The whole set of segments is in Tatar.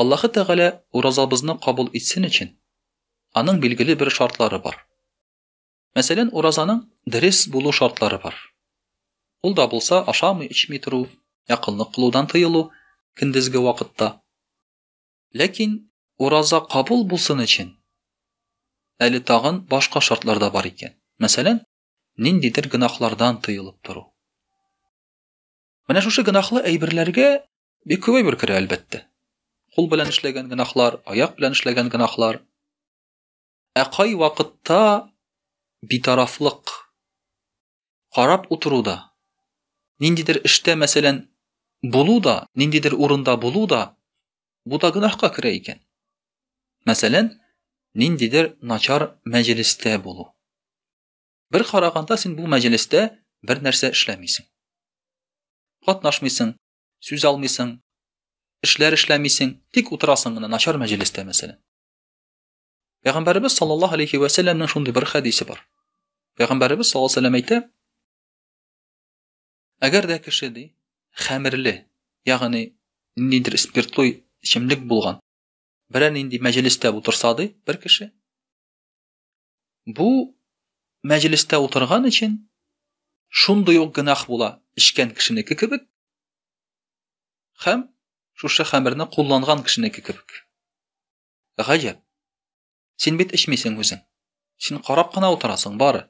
Аллаһы Тәгалә уразабызны кабул итсен өчен, аның билгеле бер шартлары бар. Мәсәлән, уразаның дөрес булу шартлары бар. Ул да булса ашамый-эчми тору, якынлык кылудан тыелу көндезге вакытта. Ләкин ураза кабул булсын өчен, әле тагын башка шартлар да бар икән. Мәсәлән, ниндидер гөнаһлардан тыелып тору. Менә шушы гынахлы әйберләргә бик күп әйбер керә, әлбәттә. Кул белән эшләгән гынахлар, аяк белән эшләгән гынахлар. Ә кай вакытта битарафлык карап утыру да, ниндидер эштә, мәсәлән, булу да, ниндидер урында булу да, бу да гынахка керә икән. Мәсәлән, ниндидер начар мәҗлестә булу. Бер караганда син бу мәҗлестә бер нәрсә эшләмисең. Катнашмыйсың, сүз алмыйсың, эшләр эшләмисең, тик утырасың гына начар мәҗлестә мәсәлән. Пәйгамбәрбез саллаллаһу алейхи ва сәлламның шундый бер хәдисе бар. Пәйгамбәрбез саллаллаһу алейхи ва сәллам әйтә: Әгәр дә кеше ди, хәмерле, ягъни ниндидер спиртлы эчемлек булган, берәр нинди мәҗлестә утырса ди бер кеше, Бу мәҗлестә утырган өчен шундый ук гөнаһ була, эчкән кешенеке кебек һәм шушы хәмерне кулланган кешенеке кебек. Гаҗәп. Син бит эчмисең үзең. Син карап кына утырасың бары.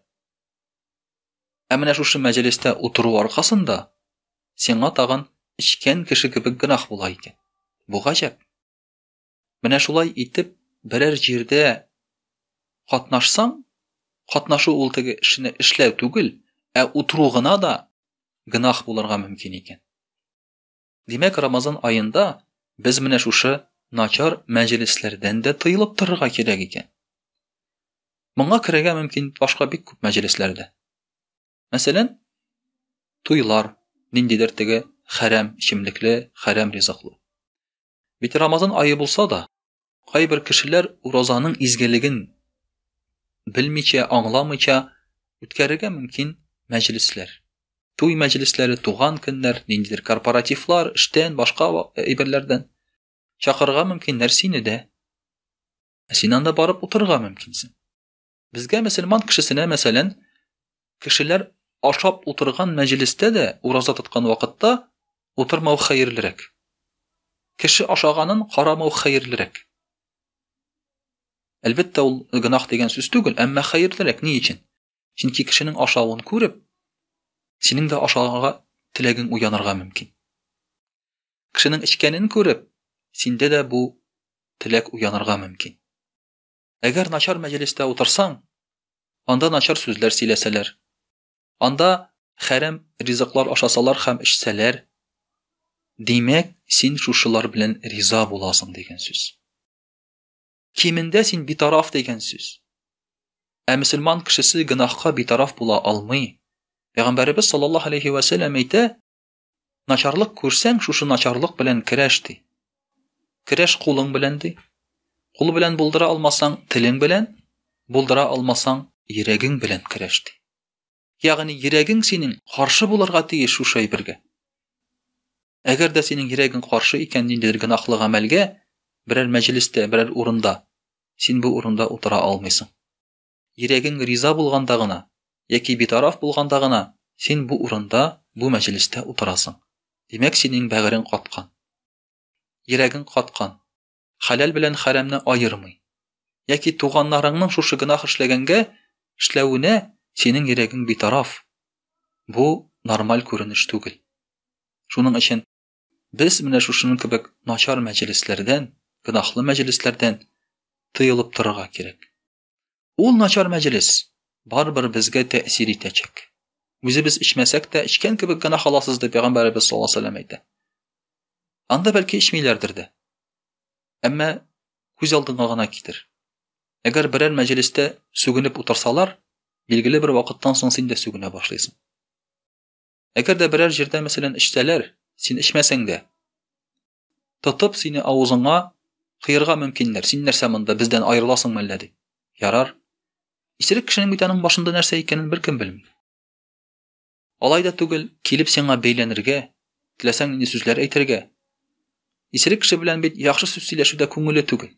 Ә менә шушы мәҗлестә утыру аркасында сиңа тагын эчкән кеше кебек гөнаһ була икән. Бу гаҗәп. Менә шулай итеп, берәр җирдә катнашсаң, катнашу ул теге эшне эшләү түгел, ә утыру гына да гынах булырга мөмкин икән. Димәк, Рамазан аенда без менә шушы начар мәҗлесләрдән дә тыелып торырга кирәк икән. Моңа керергә мөмкин башка бик күп мәҗлесләрдә. Мәсәлән, туйлар, ниндидер теге хәрәм эчемлекле, хәрәм ризыклы. Бит Рамазан айы булса да, кайбер кешеләр уразаның изгелеген белмичә, аңламыйча үткәрергә мөмкин мәҗлесләр. Туй мәҗлесләре, туган көннәр, ниндидер корпоративлар, эштән, башка әйберләрдән чакырырга мөмкиннәр сине дә. Ә син анда барып утырырга мөмкинсең. Безгә мөселман кешесенә, мәсәлән, кешеләр ашап утырган мәҗлестә дә ураза тоткан вакытта утырмау хәерлерәк. Кеше ашаганын карамау хәерлерәк. Әлбәттә, ул гынах дигән сүз түгел, әмма хәерлерәк ни өчен? Чөнки кешенең ашавын күреп, синең дә ашарга теләгең уянырга мөмкин. Кешенең эчкәнен күреп, синдә дә бу теләк уянырга мөмкин. Әгәр начар мәҗлестә утырсаң, анда начар сүзләр сөйләсәләр. Анда хәрәм ризыклар ашасалар һәм эчсәләр, димәк, син шушылар белән риза буласың дигән сүз. Кимендә син битараф дигән сүз. Ә мөселман кешесе гөнаһка битараф була алмый. Пәйгамбәребез саллаллаһу алейхи ва сәлләм әйтә, Начарлык күрсәң, шушы начарлык белән керәш ди. Керәш кулың белән ди. Кул белән булдыра алмасаң, телең белән, булдыра алмасаң, йөрәгең белән керәш ди. Ягъни йөрәгең синең каршы булырга тиеш шушы әйбергә. Әгәр дә синең йөрәгең каршы икән ниндидер гөнаһлы гамәлгә, берәр мәҗлестә, берәр урында, син бу урында утыра алмыйсың. Йөрәгең риза булганда гына, яки битараф булганда гына син бу урында, бу мәҗлестә утырасың. Димәк, синең бәгырең каткан. Йөрәгең каткан. Хәләл белән хәрәмне аермый. Яки туганнарыңның шушы гөнаһ эшләгәнгә, эшләвенә синең йөрәгең битараф. Бу нормаль күренеш түгел. Шуның өчен без менә шушының кебек начар мәҗлесләрдән, гөнаһлы мәҗлесләрдән тыелып торырга кирәк. Ул начар мәҗлес барыбер безгә тәэсир итәчәк. Үзебез эчмәсәк тә, эчкән кебек генә халасыз дип пәйгамбәребез саллаллаһу алейһи вәсәлләм әйтә. Анда бәлки эчмиләрдер дә. Әмма күз алдыңа гына китер. Әгәр берәр мәҗлестә сүгенеп утырсалар, билгеле бер вакыттан соң син дә сүгенә башлыйсың. Әгәр дә берәр җирдә мәсәлән эчсәләр, син эчмәсәң дә, Тотып сине авызыңа кыерга мөмкиннәр. Син нәрсә монда бездән аерыласың мәллә ди. Ярар. Исерек кешенең бит аның башында нәрсә икәнен беркем белми. Алай да түгел, килеп сиңа бәйләнергә, теләсәң инде сүзләр әйтергә. Исерек кеше белән бит яхшы сүз сөйләшүдә күңеле түгел.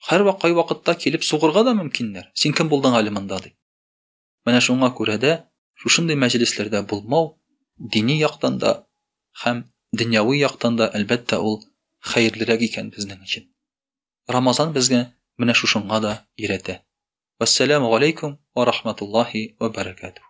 Хәрвак кай вакытта килеп сугырга да мөмкиннәр. Син кем булдың әле монда ди. Менә шуңа күрә дә шушындый мәҗлесләрдә булмау дини яктан да һәм дөньяви яктан да, әлбәттә, ул хәерлерәк икән безнең өчен. Рамазан безгә менә шушыңа да өйрәтә. Вассаламу алейкум ва рахматуллахи ва баракатух.